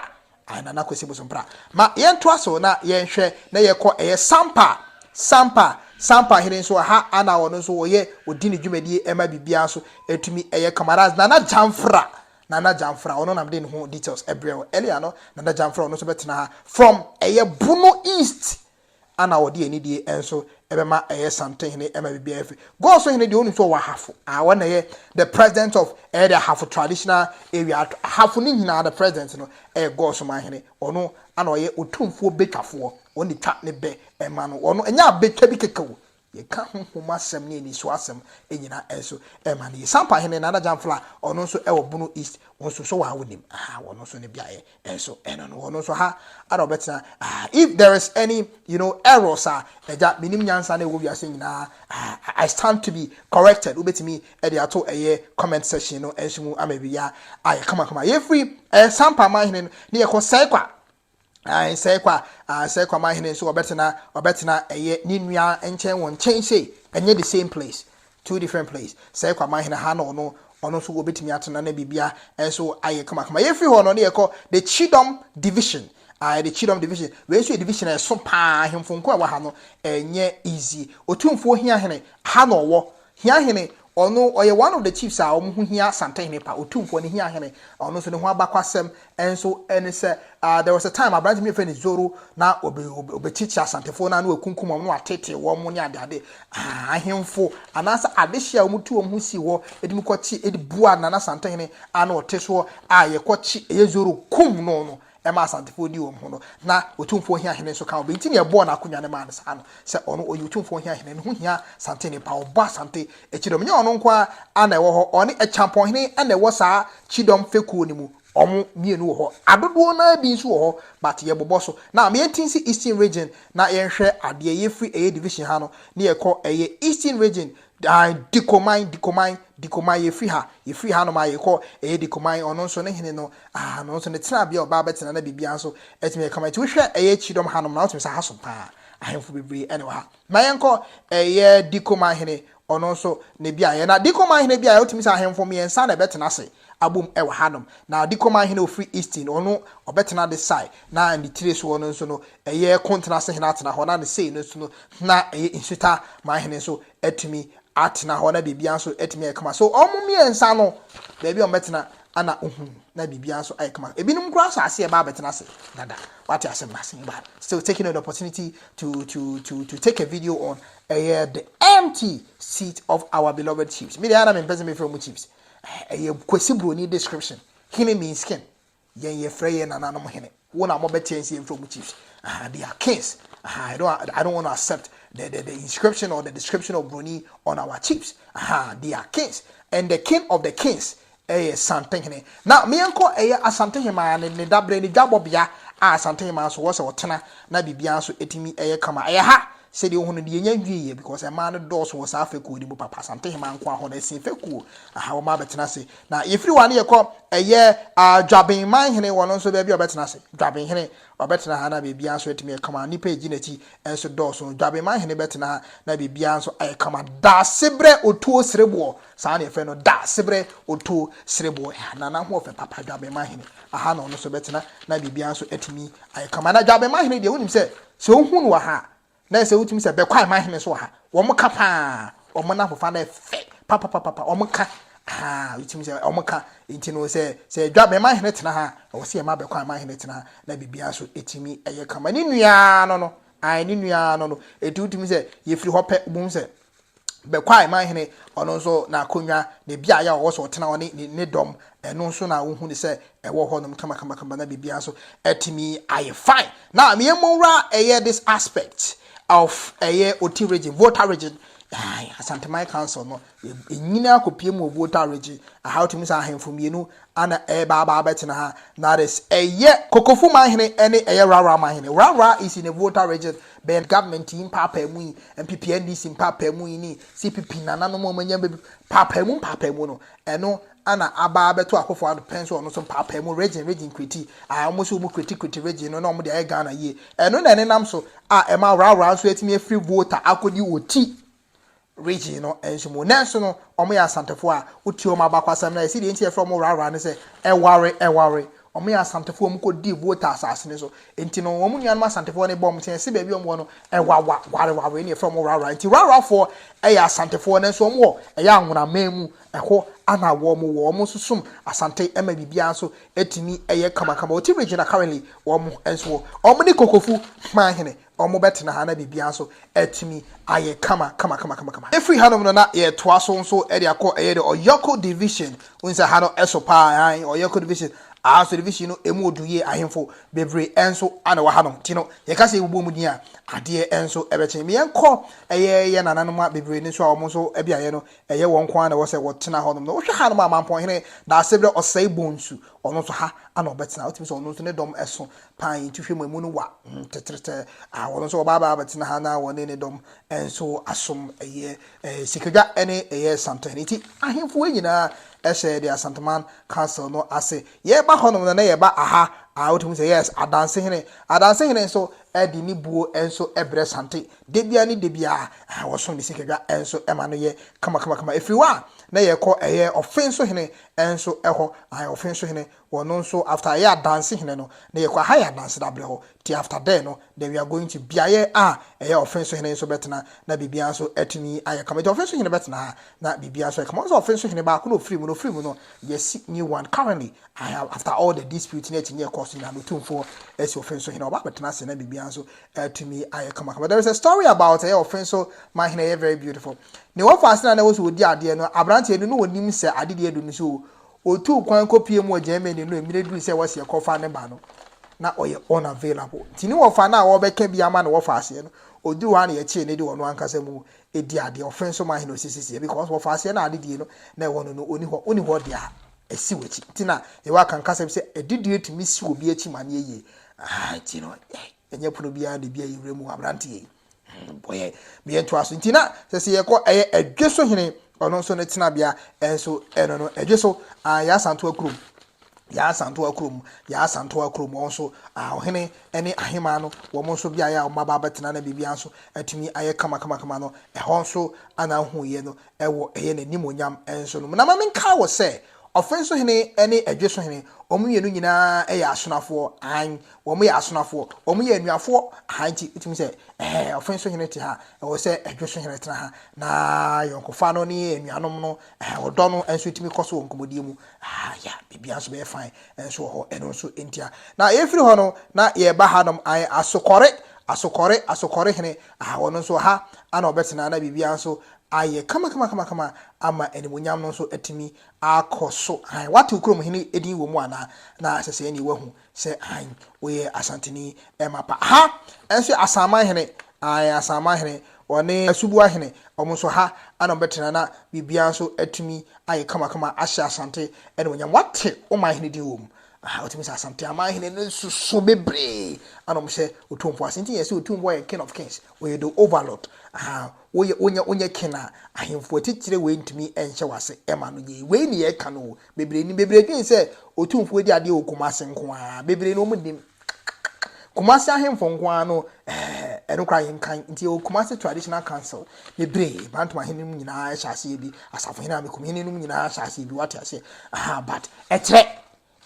ae, Nana Kwasi Bosompra. Ma yɛntoa so na yɛnhwɛ na yɛkɔ ɛyɛ Sampa, Sampa, Sampa hene nso, ɛha ara na ɔno nso ɔyɛ, ɔdi ne dwumadie ɛma biribiara nso ɛtumi ɛyɛ kama. That's Nana Gyamfra, Nana Gyamfra ɔno na mede ne ho details brɛ wo earlier no, Nana Gyamfra ɔno nso bɛtena ha from ɛyɛ Bono East ana ɔde anidie nso bɛma ɛyɛ Something Hene ɛma biribiara firi Go so Hene deɛ wonim sɛ ɔwɔ Ahafo ah wɔn na ɛyɛ the president of ɛyɛ the Ahafo traditional area Ahafo no nyinaa the president no ɛyɛ Go so man Hene ɔno ana ɔyɛ Otumfoɔ Bɛtwafoɔ ɔno na ɛtwa ne bɛ ɛma no ɔno ɛnyɛ abɛtwa bi kɛkɛ o Yɛka honhom asɛm ne ani so asɛm nyinaa nso ma no. Yɛ Sampa hene Nana Gyamfla a ɔno nso wɔ Bono East nso so waa wonim aha wɔn nso ne beaeɛ nso ɛno no wɔn nso ha ara ɔbɛtena ah if there is any you know errors a ɛgya menim nyansa na ɛwɔ wiase nyinaa ah I stand to be corrected wobɛtumi ɛde ato ɛyɛ comment section no nso mu ama biribiara ayɛ kamakama yɛfiri ɛyɛ Sampa man hene no ne yɛkɔ sɛe kwa Ansɛe kwa, ansɛe kwa m'ahene nso ɔbɛtena ɔbɛtena ɛyɛ ne nua nkyɛn wɔ nkyɛn sei ɛnyɛ the same place two different place sɛe kwa m'ahene ha na ɔno ɔno nso wɔbɛtumi atena na biribia nso ayɛ kamakama yɛfiri hɔ no ne yɛkɔ the Chidom division uh, the Chidom division wei nso yɛ division a ɛso paa ahemfo nko a ɛwɔ ha no ɛnyɛ easy otumfuo hia hene ha na ɔwɔ Hia Hene, Ɔno, ɔyɛ one of the chiefs a wɔn ho hia Asante Hene pa, Otumfoɔ no Hia Hene, ɔno nso ne ho abakwasɛm nso ne sɛ, ah, there was a time aberante bi a wɔfrɛ no Zoro, na ɔbe, ɔbe, ɔbɛkyekyere Asantefoɔ no ara na wakunkum wɔn na wateetee wɔn ne adeade, ah, ahemfo anaasɛ adehye a wɔtu wɔn ho sii hɔ de mu kɔkye de bua Nana Asante Hene a na ɔte soɔ a yɛkɔkye, ɛyɛ Zoro, kum no no, ɛma Asantefoɔ di wɔn ho no, na Otumfoɔ hia hene nso ka ho. Bɛ nti na yɛbɔɔ n'akonwa no maa no saa no, sɛ ɔno, ɔyɛ Otumfoɔ hia hene, ne ho hia Asante nnipa, ɔbɔ Asante kyidɔm. Nyɛ ɔno nko ara na ɛwɔ hɔ, ɔne Akyampɔnhene na ɛwɔ saa kyidɔm fekuo no mu, wɔn mmienu wɔ hɔ. Adodoɔ no ara bi nso wɔ hɔ, but yɛbobɔ so. Now, ma yɛnti nsi Eastern Region na yɛnhwɛ adeɛ, yɛfiri ɛyɛ division ha no, na yɛkɔ ɛyɛ Eastern Region, Dan, Dikoman, Dikoman, Dikoman, yɛfiri ha, yɛfiri hanom a yɛkɔ, ɛyɛ Dikoman, ɔno nso ne hene no, ah, ɔno nso ne tenabea a ɔbaa bɛtena na biribiara nso atumi ayɛ kama. Nti wohwɛ ɛyɛ akyidɔm hanom na wotumi sɛ ha som paa, ahemfo bebree ɛne wɔ ha. Ma yɛnkɔ ɛyɛ Dikoman hene, ɔno nso ne beaeɛ. Na Dikoman hene beaeɛ wotumi sɛ ahemfo mmiɛnsa na ɛbɛtena ase. abom wɔ hanom. Na ɔde kɔmaa hene a ɔfiri Isti no, ɔno ɔbɛtena ade sae, na ne tire soɔ no nso no, ɛyɛ kontena se hene atena hɔ, na ne sei no nso no, na ɛyɛ nsuta ma hene nso atumi atena hɔ, na biribiara nso atumi ayɛ kama. So wɔn mmiɛnsa no, baabi a wɔbɛtena na ɔhu, na biribiara nso ayɛ kama. Ebinom koraa sɛ aseɛ baa bɛtena ase dada. Wate asɛm no ase yi baa. Still taking an opportunity to, to, to, to take a video on ɛyɛ the empty seat of our beloved chiefs. Me deɛ ana mempɛ sɛ mefrɛ wɔn chiefs. ɛyɛ kwasi broni description hene mean skin yɛn yɛfrɛ yɛn nananom hene wo na mobɛteɛ nsi yɛmfrɛ mu chiefs uh, they are kings uh, I, don't, I don't want to accept the, the, the inscription or the description of broni on our chiefs uh, they are kings and the king of the kings ɛyɛ santehene na meɛnkɔ ɛyɛ asantehema ne ne dabrɛ ne dwabɔbea a asantehema nso wɔ sɛ ɔtena na biribiara nso ɛtumi ɛyɛ kama ɛyɛ ha Sɛdeɛ wohu no deɛ yɛnya nwieɛ because mmaa no dɔɔso wɔ saa fɛkuo no mu papa Asantehemaa nko ara hɔ no ɛsen fɛkuo aha wɔn abɛtena ase na yɛfiri hɔ a ne yɛkɔ ɛyɛ ah Dwabenman hene wɔn nso baabi a ɔbɛtena ase Dwaben hene ɔbɛtena ha na biribiara nso atumi ayɛ kama nnipa ɛgyi n'akyi nso dɔɔso Dwabenman hene bɛtena ha na biribiara nso ayɛ kama Daasebrɛ Otuo Sereboɔ saa na yɛfrɛ no Daasebrɛ Otuo Sereboɔ ɛha na n'ahoɔfɛ papa Dwabenman hene aha na ɔno nso bɛtena na biribiara nso atumi ayɛ kama na Dwabenman hene deɛ wonim sɛ Sɛ wohu no wɔ ha a, na ɛsɛ wotumi sɛ bɛkɔ a ɛma ahene nso wɔ ha. Wɔn ka paa. Wɔn n'ahofa no ɛfɛ papapapa. Wɔn ka. Aha, wotumi sɛ wɔn ka. Nti no sɛ sɛ adwa bɛma ahene tena ha a, ɛwɔ sɛ yɛma bɛkɔ a ɛma ahene tena ha na biribiara nso etumi ɛyɛ kama. Ne nuaa no no, ae ne nuaa no no. Enti wotumi sɛ yɛfiri hɔ pɛ, wobɛhu sɛ. bɛkwae man hene, ɔno nso n'akonnwa, ne beaeɛ a ɔwɔ sɛ ɔtena hɔ ne ne dɔm, ɛno nso na wohu ne sɛ ɛwɔ hɔnom kamakamakama na biribiara nso atumi ayɛ fine. Now, me yɛn mmɔnwura ɛyɛ this aspect of ɛyɛ Oti region, Volta region, Asanteman Council no, ɛnyini akɔpie mu wɔ Volta region, aha wotumi sɛ ahemfo mmienu Ana ɛreba aba abɛtena ha that is ɛyɛ. Kokofu manhene ɛne ɛyɛ Rawra manhene. Rawra is in a Volta region bɛn government yi mpaapaemu yi NPP-NDC mpaapaemu yi ne CPP nananom a wɔn anya bɛdu paapaemu mpaapaemu no ɛno ana aba abɛto Akufo Addo pɛn so ɔno nso mpaapaemu region region kreti a wɔn nso wɔn kreti kreti region no na wɔn de ayɛ Ghana yie ɛno na ɛnenam so a ɛma Rawra nso atumi afiri Volta akɔdi ɔti region no nso mu. Nanso no, wɔyɛ Asantefoɔ a wotie wɔn abakwasɛm na ɛsi deɛ nti yɛfrɛ wɔn rara ne sɛ ɛware ɛware. Wɔyɛ Asantefoɔ wɔn kɔ di vote asase no so. Nti no wɔn nuanom Asantefoɔ ne bɔ wɔn sɛ baabi wɔn wɔ no ɛwawa ware ware ne yɛfrɛ wɔn rara. Nti rarafoɔ ɛyɛ Asantefoɔ nanso wɔn wɔ ɛyɛ anwonaman mu ɛhɔ ana wɔn wɔ. Wɔn nso som Asante ɛma biribiara nso ɛtumi ɛyɛ kamakama. Wɔte region a currently wɔn nso wɔ. Wɔn ne Kokofu Hman hene Wɔbɛtena ha na biribiara nso atumi ayɛ kama kama kama kama kama. Ɛfiri hanom no na yɛtoa so nso de akɔ ɛyɛ de Ɔyɔko division. Wohu sɛ ha no ɛso paa aane Ɔyɔko division aa so division no ɛmu ɔdu yie ahemfo bebree nso na ɛwɔ hanom nti no yɛka sɛ yɛbobɔ mu din a adeɛ nso ɛbɛkye. Me yɛnkɔ ɛyɛ yɛn nananom a bebree no nso a wɔn nso beaeɛ no ɛyɛ wɔn nko ara na ɛwɔ sɛ wɔtena hɔnom no. Wohwɛ hanom a Mampɔnhene Daasebrɛ Ɔsɛe Bonsu ɔno nso ha na ɔbɛtena wotumi sɛ ɔno nso ne dɔm ɛso Pan yi tuhwɛ mu emu no wa mm tɛtrɛtɛ ah Wɔn nso wɔbaabaa bɛtena ha na wɔne ne dɔm nso asom Ɛyɛ eh sikadwa ne ɛyɛ santen Enti ahemfo yi nyinaa hyɛɛ deɛ Asanteman Council no ase Yɛba hɔnom no na yɛba aha ah Wotumi hu sɛ yes Adansehene Adansehene nso de ne buo nso brɛ Sante Da biara ne da biara ah wɔsom ne sikadwa nso ma no yɛ kama kama kama Ɛfiri hɔ a na yɛkɔ ɛyɛ Ɔfenso Hene nso hɔ ah Ɔfenso Hene Wɔno nso after yɛ adanse hene no na yɛkɔ aha yɛ adanse da brɛ hɔ nti after there no then we are going to beaeɛ a ɛyɛ ɔfe nso hene nso bɛtena na biribiara nso atumi ayɛ kama nti ɔfe nso hene bɛtena ha na biribiara nso ayɛ kama ɔsɛ ɔfe nso hene baako na ɔfiri mu no ɔfiri mu no yɛsi new one currently aha after all the dispute ne akyinnye ɛkɔɔ so nyinaa no ɔtumfoɔ asi ɔfe nso hene ɔba abɛtena ase na biribiara nso atumi ayɛ kama kama there is a story about ɛyɛ ɔfe nso ma hene ɛyɛ very beautiful ne wɔfa ase na na ɛwɔ so wɔdi adeɛ no aberanteɛ no na ɔnim sɛ adedeɛ adu no so Otuu kwan kɔpuee mu wɔ Germany no mmerɛ duruu sɛ wɔseɛ kɔfa ne ba no, na ɔyɛ unavailable nti ne wɔfa no a wɔrebɛka bi ama no wɔfa aseɛ no, ɔduruu hɔ a na yɛkyee no de ɔno ankasa mu di adeɛ, ɔfe nso ma he na ɔsisisie because wɔfa aseɛ no a adedie no na ɛwɔ no no ɔni hɔ, wonni hɔ deɛ a ɛsi w'akyi nti na Yehowa ka nkasɛm sɛ adedie tumi si obi akyi ma no yɛ yie, ahaa nti no yɛn. Ɛnyɛ pono biara na ebi ayi wura mu wɔ aberanteɛ yi bɔyɛ meyɛ ntoa so nti na sɛ sɛ yɛkɔ ɛyɛ adwe so hene ɔno nso ne tenabea ɛnso ɛno no adwe so yɛ asantoa kurom yɛ asantoa kurom yɛ asantoa kurom wɔn nso ɔhene ne ahema no wɔn nso beaeɛ a wɔn aba abɛtena na biribiara nso atumi ayɛ kama kama kama no ɛhɔ nso ana ahoyɛ no ɛwɔ ɛyɛ n'animonyam ɛnso no na ma menka wɔ sɛ Ɔfen so hene ne ɛdwe so hene, wɔn mmienu nyinaa yɛ asonafoɔ, hann, wɔn yɛ asonafoɔ, wɔn yɛ anuafoɔ, hann nti, wotumi sɛ, ɛhɛ, ɔfen so hene te ha, ɛwɔ sɛ ɛdwe so hene tena ha, na yɔnkofa no ne anuanom no, ɛhɛ, ɔdɔ no nso tumi kɔ so wɔ nkɔmmɔdie mu, ah, ya, biribiara nso bɛyɛ fine, nso wɔ hɔ, ɛno nso ntia, na yɛfiri hɔ no, na yɛreba hanom, hann, asokɔre, asokɔre, asokɔre hene, ah, wɔn nso ha, ana wɔbɛtena, na biribiara nso ayɛ kamakamakama ama animuonyam no nso atumi akɔ so hann. Woate wo kurom hene din wɔ mu anaa? Na sɛ sɛɛ nie woahu sɛ hann woyɛ Asanteni mma pa. Ha nso yɛ Asanman hene, ae, Asanman hene, ɔne Asuboa hene, wɔn nso ha na wɔbɛtena na biribiara nso atumi ayɛ kamakama ahyɛ Asante animuonyam. Woate wo man hene din wɔ mu? Aha, wotumi sɛ Asante aman hene no soso bebree na wɔhyɛ Otumfoɔ ase. Nti yɛn sɛ Otumfoɔ yɛ King of Kings, ɔyɛ the overlord. Aha, Woyɛ, wonyɛ, wonyɛ ken a, ahemfo atitire wei ntumi nhyɛ wo ase mma no nyɛ yi. Wei ne yɛreka no o. Bebree nim, bebree dwen sɛ Otumfoɔ di adeɛ wɔ Kumasi nko ara. Bebree no, wɔnnim. Kumasi ahemfo nko ara no, eh, ɛno koraa yɛnkan. Nti yɛwɔ Kumasi Traditional Council, bebree, Bantom ahene nom nyinaa hyɛ aseɛ bi, Asafohene, Amekumhene nom nyinaa hyɛ aseɛ bi, woate aseɛ? Aha, but ɛkyerɛ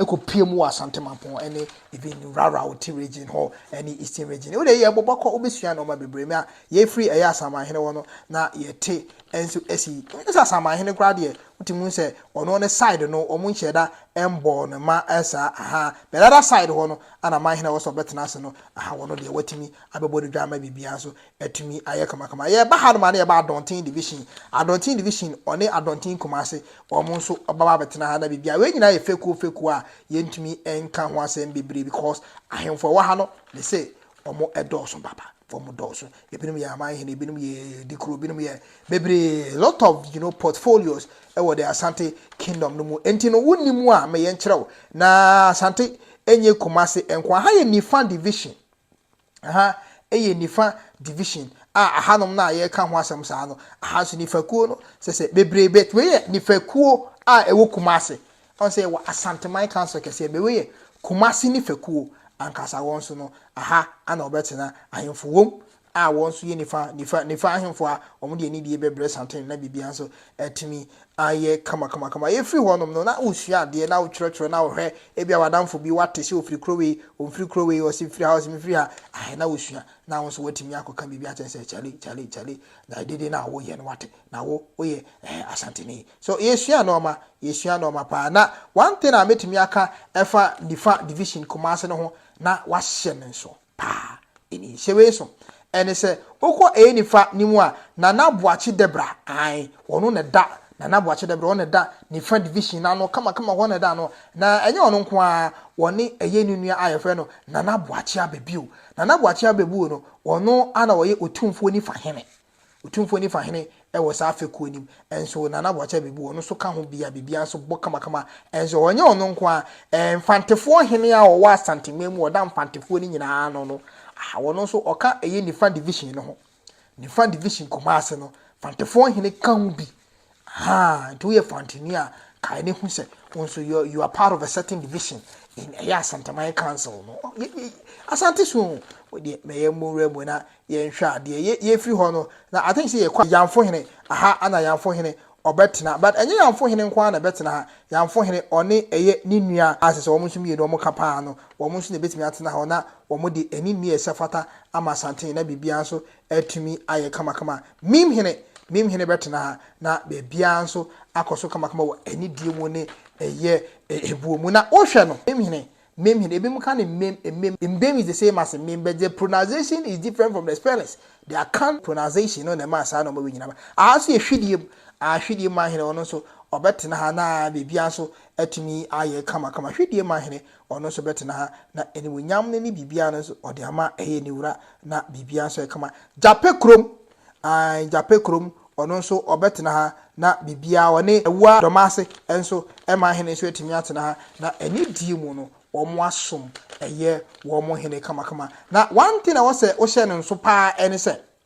ɛkɔpue mu wɔ Asante Mampong ne even Raraoti region hɔ ne Eastern region. Wode yɛ bɔbɔ kɔ wobɛsua nnoɔma bebree ma yɛfiri ɛyɛ asamanhene hɔ no na yɛte nso asi sɛ asamanhene koraa deɛ wotumi hu sɛ ɔno ne side no wɔn nhyɛ da mbɔɔ no ma ɛsaa aha but other side hɔ no ana manhene wɔ sɛ ɔbɛtena ase no aha wɔn deɛ watumi abɛbɔ ne dwa ama biribiara nso atumi ayɛ kamakama. Yɛba hanom a na yɛba Adɔnten division, Adɔnten division ɔne Adɔnten Kumase wɔn nso ɔbɛba abɛtena ha na biribiara. Wei nyinaa yɛ fekuo fekuo a yɛntumi nka ho asɛm bebree because ahemfo ɛwɔ ha no me se wɔn ɛdɔɔso papa. Wɔn dɔɔso. Ebinom yɛ aman hene, ebinom yɛ dikuro, ebinom yɛ bebree. Lot of you know portfolios ɛwɔ the Asante kingdom no mu. Enti no wonni mu a meyɛ nkyerɛ wo. Na Asante enye Kumase nko. Aha yɛ Nifa division. Aha yɛ nifa division a ahanom no a yɛreka ho asɛm saa no, aha nso nifakuo no sɛ sɛ bebree bɛt wei yɛ nifakuo a ɛwɔ Kumase. Ɔn sɛ yɛwɔ Asanteman Council kɛseɛ bɛ wei yɛ Kumase nifakuo ankasa wɔn nso no aha ana wɔbɛtena ahemfo wom a wɔn nso yɛ nifa nifa nifa ahemfo a wɔn de anidie bɛbrɛ Santene na biribiara nso atumi ayɛ kamakamakama. Yɛfiri hɔnom no, na wosua adeɛ, na wotwerɛtwerɛ, na wohwɛ ebia w'adamfo bi wate sɛ ɔfiri kuro wei, ɔmfiri kuro wei, ɔse mfiri ha, ɔse mefiri ha. Ae, na wosua, na wo nso woatumi akɔka biribi akyerɛ sɛ kyale, kyale, kyale, na ɛdede no a woyɛ no wate, na wo, woyɛ eh, Asanteni. So yɛsua nnoɔma, yɛsua nnoɔma paa. Na one thing a mɛtumi aka ɛfa Nifa Division Kumasi no ho, na wɔahyɛ no nso. paa ɛni nhyɛ wei so ɛne sɛ wokɔ ɛyɛ nifa ne mu a nana boakye debra ae wɔno na da nana boakye debra wɔn na da nifa division na no kama kama wɔn na da no na ɛnyɛ wɔn nko a wɔne ɛyɛ ne nua a yɛfrɛ no nana boakye abɛbio nana boakye abɛbuo no wɔno ana wɔyɛ otumfoɔ nifa hene Otumfoɔ Nifa hene wɔ saa fekuo nim nso Nana Boakye Abebu ɔno nso ka ho bi a biribiara nso bɔ kamakama nso hɔ. Ɛnyɛ ɔno nko ara, Mfantefoɔ hene a ɔwɔ Asanteman mu a ɔda Mfantefoɔ no nyinaa ano no, ah, ɔno nso ɔka ɛyɛ Nifa division no ho. Nifa division Kumase no, Mfantefoɔ hene ka ho bi. Ahaa, nti woyɛ fantini a, kae no hu sɛ wo nso you, you are part of a certain division in ɛyɛ Asantaman Council no. Asante so o, deɛ mɛyɛ mmɔwura mu na yɛnhwɛ adeɛ. Yɛ yɛfiri hɔ no, na I think sɛ yɛkɔ Yamfo Hene, aha ana Yamfo Hene ɔbɛtena, but ɛnyɛ Yamfo Hene nko ara na ɛbɛtena ha. Yamfo Hene ɔne ɛyɛ ne nua a sɛ sɛ wɔn nso mmienu wɔn ka paa no, wɔn nso na ɛbɛtumi atena hɔ na wɔn de ani nni a ɛsɛ fata ama Asante na biribiara nso atumi ayɛ kamakama. Meme hene, meme hene bɛtena ha, na baabiara nso akɔ so kamakama wɔ anidie mu ne ɛyɛ ɛboɔ mu. Na wohwɛ no, meme hene, meme hene, ebinom ka no mmem, mmem, mbem is the same as mmem, but the pronounciation is different from the spellings. The Akan pronounciation no na ɛmaa saa nɔɔma wei nyina ba. Aha nso yɛ hwidie mu, aha hwidie mu ahene, ɔno nso ɔbɛtena ha na baabiara nso atumi ayɛ kamakama. Hwidie mu ahene, Ɔno nso bɛtena ha, na animuonyam no ne biribiara no nso, ɔde ama ɛyɛ ne wura, na biribiara nso yɛ kama. Gyapɛ kurom, aane, Gyapɛ kurom, ɔno nso ɔbɛtena ha, na biribiara, ɔne Awuraa Dɔmase nso, ɛma hene nso atumi atena ha, na anidie mu no, wɔasom, ɛyɛ wɔn hene kamakama. Na one thing a ɛwɔ sɛ wohyɛ no nso pa ara ne sɛ,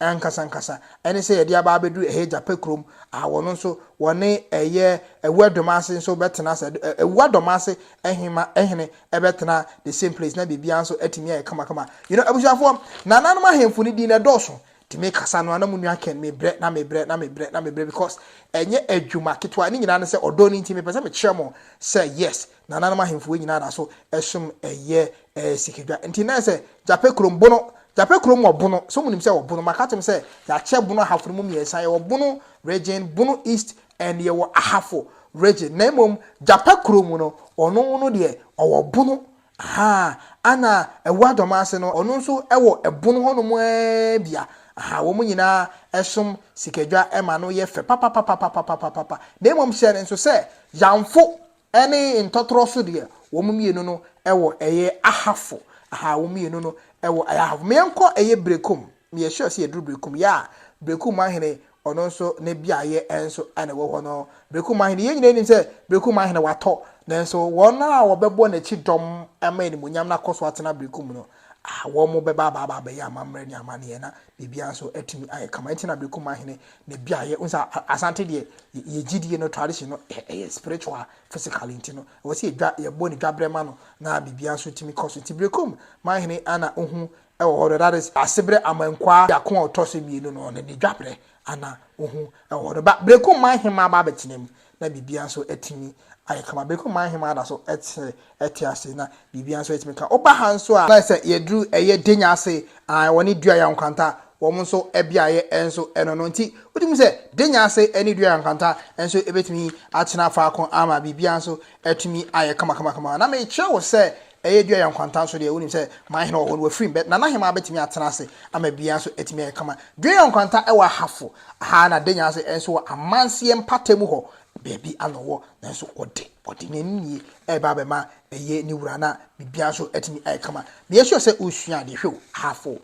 ankasankasa ne sɛ yɛde aba abɛduru ɛhɛ Gyapɛ kurom a wɔn nso wɔne ɛyɛ Awua Dɔmase nso bɛtena sɛ Awua Dɔmase hema hene bɛtena the same place na biribiara nso atumi ayɛ kamakama you know abusuafoɔ nananom ahemfo no din na ɛdɔɔso nti mekasa no a na mo nua Ken mebrɛ na mebrɛ na mebrɛ na mebrɛ because ɛnyɛ adwuma ketewa ne nyinaa ne sɛ ɔdɔ no nti mepɛ sɛ mekyerɛ mo sɛ yes Nananom ahemfo yi nyinaa da so som ɛyɛ ɛɛ sikadwa. Nti na ɛsɛ Gyapɛ kurom bono. Gyapɛ kurom wɔ bono. So mo nim sɛ wɔ bono? Maka atom sɛ yɛakyɛ bono ahafo no mu mmiɛnsa. Yɛwɔ bono region, bono east and yɛwɔ ahafo region. Na mmom Gyapɛ kurom no ɔno no deɛ ɔwɔ bono. Ahaa. Ana Awuah Dɔmase no ɔno nso ɛwɔ ɛbono hɔ nom ɛɛ bia. Ahaa. Wɔn nyinaa ɛsom sikadwa ɛma no yɛ fɛ papapapapapapapapa. Na mmom hyɛ no nso sɛ Yanfo Ɛne ntɔtorɔ so deɛ wɔn mmienu no wɔ ɛyɛ ahafo ahaa wɔn mmienu no wɔ ɛyɛ ahafo ma yɛn kɔ ɛyɛ brekum me yɛ sure sɛ yɛ duru brekum yaa brekum ahene ɔno nso ne bia yɛ ɛnso ɛna ɛwɔ hɔ no brekum ahene yɛn nyina nim sɛ brekum ahene watɔ na nso wɔn a wɔbɛbɔ n'akyi dɔm ɛma ɛni mu nyam na kɔ so atena brekum no a wɔn mo bɛba abaa abɛyɛ amammerɛ ne amaneɛ na biribiara nso atumi ayɛ kama. Ɛnti na Aberekumah Hene ne beaeɛ, wohu sɛ Asante deɛ yɛ gyidie no tradition no ɛyɛ spiritual, physically nti no ɛwɔ sɛ yɛdwa yɛbɔ ne dwaberɛ ma no na biribiara nso tumi kɔ so. Nti Berekum man hene ana ohu ɛwɔ hɔ no that is Aseberɛ Amankwaa biako a ɔtɔ so mmienu no ɔno ne dwaberɛ ana ohu ɛwɔ hɔ no ba Berekum man hema aba abɛtena mu na biribiara nso atumi ayɛ kama. Bere koro mu ahemmaa da so te te ase, na biribiara nso atumi ka. Woba ha nso a, na sɛ yɛduru ɛyɛ Denya ase, ae, wɔne Dua Yan Kwanta wɔn nso beaeɛ nso no no nti, wogye mu sɛ Denya ase ne Dua Yan Kwanta nso bɛtumi atena faako ama biribiara nso atumi ayɛ kamakamakama. Na mekyerɛ wo sɛ Ɛyɛ dua yɛ nkwanta nso deɛ, wonim sɛ m'ahene wɔ hɔ no, wafiri me bɛ, na n'ahemmaa bɛtumi atena ase ama biara nso atumi ayɛ kama. Dua yɛ nkwanta wɔ ahafo ha na denya ase nso wɔ amanseɛ mpatamu hɔ baabi a na ɔwɔ, nanso ɔde, ɔde n'ani nie reba abɛma ɛyɛ ne wura na biribiara nso atumi ayɛ kama. Meyɛ sure sɛ wosua adeɛ. Hwɛ o, ahafo,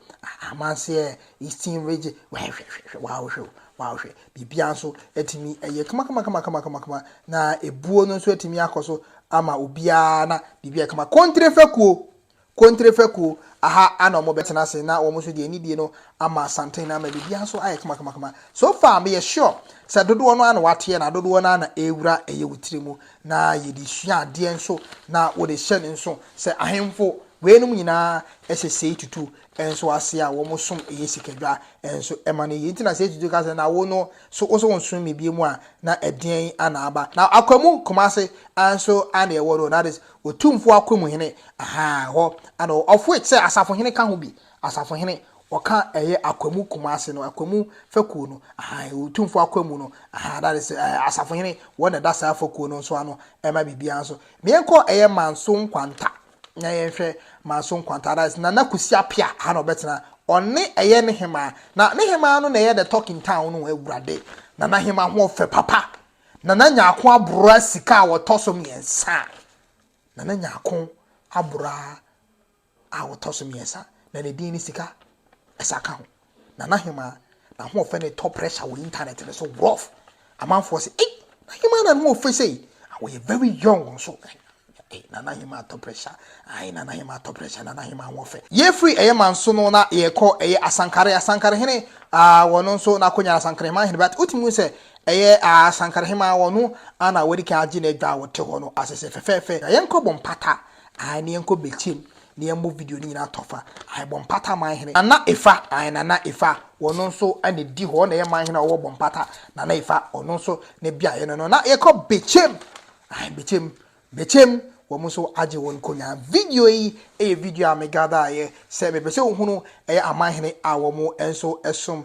amanseɛ, eastern region, hwɛ, hwɛ, hwɛ, hwɛ, wow, hwɛ o, wow, hwɛ. Biribiara nso atumi ayɛ kamakamakamakamakamakama na ebuo no nso atumi akɔ so ama obiara na biribi ayɛ kama. Kontre fɛkuo, kontre fɛkuo, aha ana wɔn bɛtena ase na wɔn nso deɛ anidie no ama santen na ama biribiara nso ayɛ kamakamakama. So far meyɛ sure sɛ dodoɔ no ara na wateɛ na dodoɔ no ara na ɛrewura ɛyɛ wo tiri mu na yɛde sua adeɛ nso na wɔde hyɛ no nso sɛ ahemfo weinom nyinaa ɛsɛ sei tutu nso ase a wɔn som yɛ sikadwa nso ma no yie. Nti na sɛ Yesu ka sɛ, na wo no, so wo so wo nsom me bio mu a, na ɛdeɛn na aba? Na Akwamu Kumase nso na ɛwɔ no, that is, Otumfoɔ Akwamu hene, ahaa, hɔ na ɔwɔ, of which sɛ Asafohene ka ho bi, Asafohene, ɔka ɛyɛ Akwamu Kumase no, Akwamu fakuo no, ahaa, ɛwɔ Otumfoɔ Akwamu no, ahaa, that is, ɛɛ, Asafohene, wɔn na ɛda saa fakuo no nso ano ma biribiara nso. Meɛnkɔ ɛyɛ Manso Nkwanta. na yɛnhwɛ Manso Nkwanta, that is Nana Kwesi Apia, aha na ɔbɛtena. Ɔne ɛyɛ ne hemaa. Na ne hemaa no na ɛyɛ the talk in town no awurade. Nana hema ho ɔfɛ papa. Nana Nyako abora sika a wɔtɔ so mmiɛnsa. Nana Nyako abora a wɔtɔ so mmiɛnsa. Na ne din ne sika ɛsa ka ho. Nana Hemaa n'ahoɔfɛ no retɔ pressure wɔ internet no so rough. Amanfoɔ se ei na Hemaa na ne ho ɔfɛ sei. Na wɔyɛ very young nso. Ei Nana Hemaa atɔ pressure. Ai Nana Hemaa atɔ pressure Nana Hemaa ho ɔfɛ. Yɛfiri ɛyɛ Manso no na yɛrekɔ ɛyɛ Asankare. Asankare hene ah wɔno nso n'akonya no Asankare Hemaa hene but wotumi hu sɛ ɛyɛ ah Asankare Hemaa wɔno ana wɔadi kan agye n'adwa a wɔte hɔ no asese fɛfɛɛfɛ. Na yɛnkɔ bɔ mpata Ae na yɛnkɔ bɛkyɛm na yɛmmɔ video no nyinaa tɔfa ae bɔmpata manhene. Nana efa ae nana efa ɔno nso na edi hɔ ɔna ɛyɛ manhene a ɔwɔ bɔmpata nana efa ɔno nso ne beaeɛ no no na yɛkɔ bɛkyɛm ae bɛkyɛm bɛkyɛm wɔn nso agye wɔn konya video yi ɛyɛ video a me gather ayɛ sɛ mepɛ sɛ ohunu ɛyɛ amanhene a wɔn nso ɛsom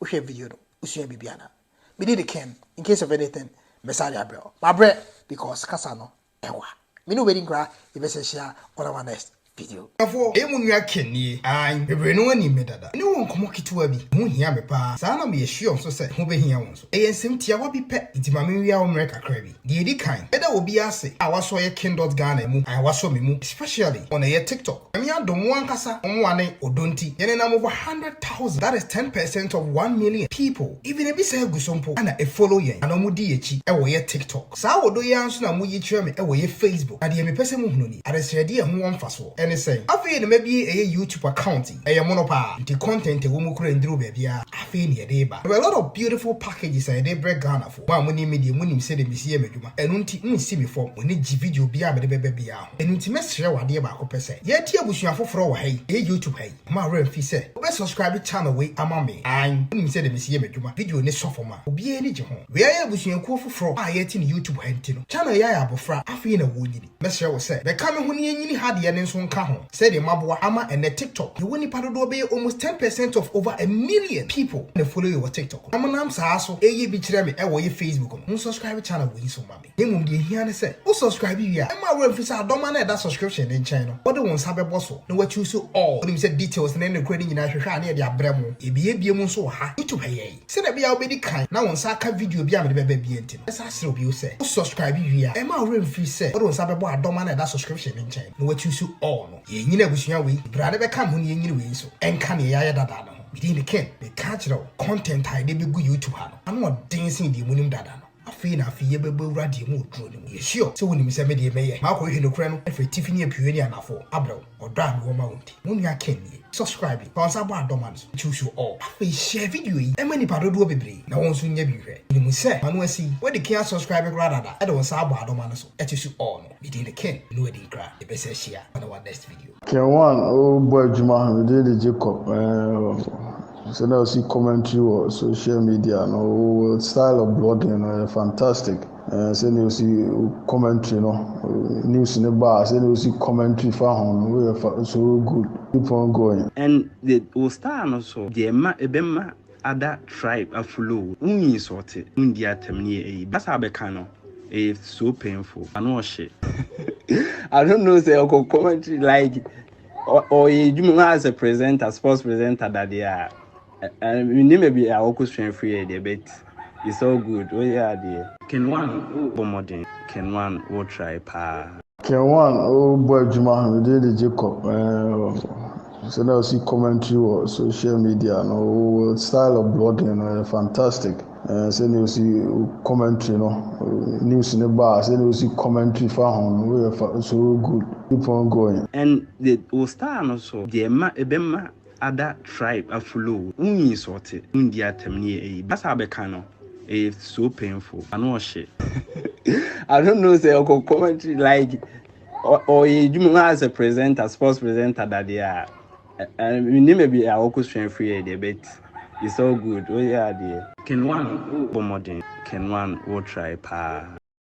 Wohwɛ video no wosua biribi ana? Me deɛ dikan in case of anything mɛsan de abrɛ wo. Mabrɛ because kasa no ɛwa. Me ne wo bɛdi nkra yɛbɛsan ahyia on our next video. Abusuafoɔ, ɛyɛ mo nua Ken nie. Aane, bebree no anim me dada. Me ne wɔn nkɔmmɔ ketewa bi, ɛho hia me paa. Saa na meyɛ sure nso sɛ ɛho bɛhia wo nso. Ɛyɛ nsɛm tiawa bi pɛ, enti ma menwia wo mmerɛ kakra bi. Deɛ ɛdi kan, mɛda obiara ase a wasɔ yɛ King Dot Ghana ɛmu and wasɔ me mu especially wɔn ɛyɛ TikTok. Nyame adom mo ankasa mo mmoa ne ɔdɔ nti yɛn nenam over hundred thousand that is ten percent of one million people even ebi saa gu so mpo ɛna ɛfollow yɛn anaa wɔn di yɛn akyi ɛwɔ yɛ TikTok. Saa ɔdɔ yi ara nso na moyi kyerɛ me ɛwɔ yɛ Facebook na deɛ mepɛ sɛ mo hunu ni adesrɛdeɛ a ɛho wɔ mfasoɔ ɛne sɛn? Afei na mabie ɛyɛ YouTube account yi ɛyɛ mono paa nti content ɛwɔ mu koraa nnuru baabiara afei na yɛde reba there were a lot of beautiful packages a yɛde rebrɛ Ghana foɔ. Mo a monim me deɛ, monim sɛdeɛ mesi yɛ m'adwuma. Ɛno nti, monnsi me fam. Mo ani gye video biara a mede bɛba biara ho. Ɛno nti, mɛsrɛ wo adeɛ baako pɛ sɛ, yɛnte abusua foforɔ wɔ ha yi, ɛyɛ YouTube ha yi. Mma wo werɛ mfi sɛ, wobɛ subscribe channel wei ama me. Aane, wonim sɛdeɛ mesi yɛ m'adwuma. Video no sɔ fam a, obiara ani gye ho. Wei ayɛ abusuakuo foforɔ a yɛte no YouTube ha nti no. Channel yi ayɛ abɔfra, afei na wɔrenyini. Mɛsrɛ wo sɛ bɛka me ho na yɛnyini ha deɛ no nso nka ho sɛdeɛ moaboa ama ɛnnɛ TikTok yɛwɔ nnipa dodoɔ bɛyɛ almost ten percent of over a million people na follow yɛ wɔ TikTok no na monam saa so ɛyɛ bi kyerɛ me ɛwɔ yɛ Facebook no mo subscribe channel wei nso ma me na mmom deɛ ɛhia ne sɛ wo subscribe wie a mma wo werɛ mfiri sɛ adɔma no a ɛda subscription no nkyɛn no wode wo nsa bɛbɔ so na woakyuuso all wonim sɛ details ne ne korɛ no nyinaa hwehwɛ a na yɛde abrɛ mo yɛbiebie mu nso wɔ ha YouTube ha yɛn. Sɛnea ɛbɛyɛ a wubedi kan na wo nsa aka video bi a mede bɛba bio nti no, mɛsan asrɛ wo bio sɛ, wo subscribe wie a, mma wo werɛ mmfiri sɛ wode wo nsa bɛbɔ adɔm a na ɛda subscription no nkyɛn no na woakyuusu all no. Yɛrenyini abusua wei, bere a na ɛbɛka me ho na yɛrenyini wei nso, ɛnka nea yɛayɛ dada no ho. Me din de Ken. Meka kyerɛ wo, content a yɛde begu YouTube ha no, ano ɔden sen deɛ munim dada no. Afei na afei yɛbɛbɔ awura deɛ mu oduro no mu. Yɛ sure sɛ wonim sɛ me deɛ mɛyɛ makɔhwehwɛ nokorɛ no afiri atifi ne apueɛ ne anafoɔ abrɛ wo ɔdɔ a mewɔ ma wo nti. Mo nua Ken nie. Subscribe fa wo nsa bɔ adɔ ma no so nti wo sure ɔɔ. Afei share video yi ma nipa dodoɔ bebree na wɔn nso nyɛ bi nhwɛ. Menim sɛ m'ano asi yi. Wode Ken asubscribe koraa dada de wo nsa abɔ adɔ ma no so ɛte su ɔɔ no. Me din de Ken no Adinkra yɛpɛ sɛ hyia on our next video. Ken one o bɔ adwuma me din de Jacob ɛɛ sɛ na ɔsi commentary wɔ social media no o style of blogging no yɛ fantastic ɛɛ sɛ na ɔsi commentary no news ne ba a sɛ na ɔsi commentary fa ho no o yɛ fa so good keep on going. Ɛn de wo style no so deɛ ma ɛbɛma ada tribe afuloo wo insɔɔte wo ndi atɛm ne yɛ eyi basa bɛka no ɛyɛ so painful ano ɔhye I don't know sɛ ɔkɔ commentary like ɔyɛ edwuma mu as a presenter sports presenter dadeɛ a menim baabi a ɔkɔ sua afiri yɛ deɛ but it's all good woyɛ adeɛ. Ken one wo bɔ mmɔden. Ken one wo try paa. Ken Wan a ɔrebɔ adwuma no din de Jacob. Sɛ na ɔsi commentary wɔ social media no, wo style of blogging no yɛ fantastic. Sɛ na ɔsi commentary no, news no ba a, sɛ na ɔsi commentary fa ho no, woyɛ so good. Keep on going. And the wo style no so deɛ ɛma ɛbɛma ada tribe afuloo wo insɔɔte wo ndi atɛm ne yɛ ɛyi basa bɛka no ɛyɛ so painful ano ɔhye I don't know sɛ ɔkɔ commentary like ɔyɛ adwuma mu as a presenter sports presenter dadeɛ a menim baabi a ɔkɔ sua firi yɛ deɛ but it's all good woyɛ adeɛ. Ken one wo bɔ mmɔden. Ken one wo try paa.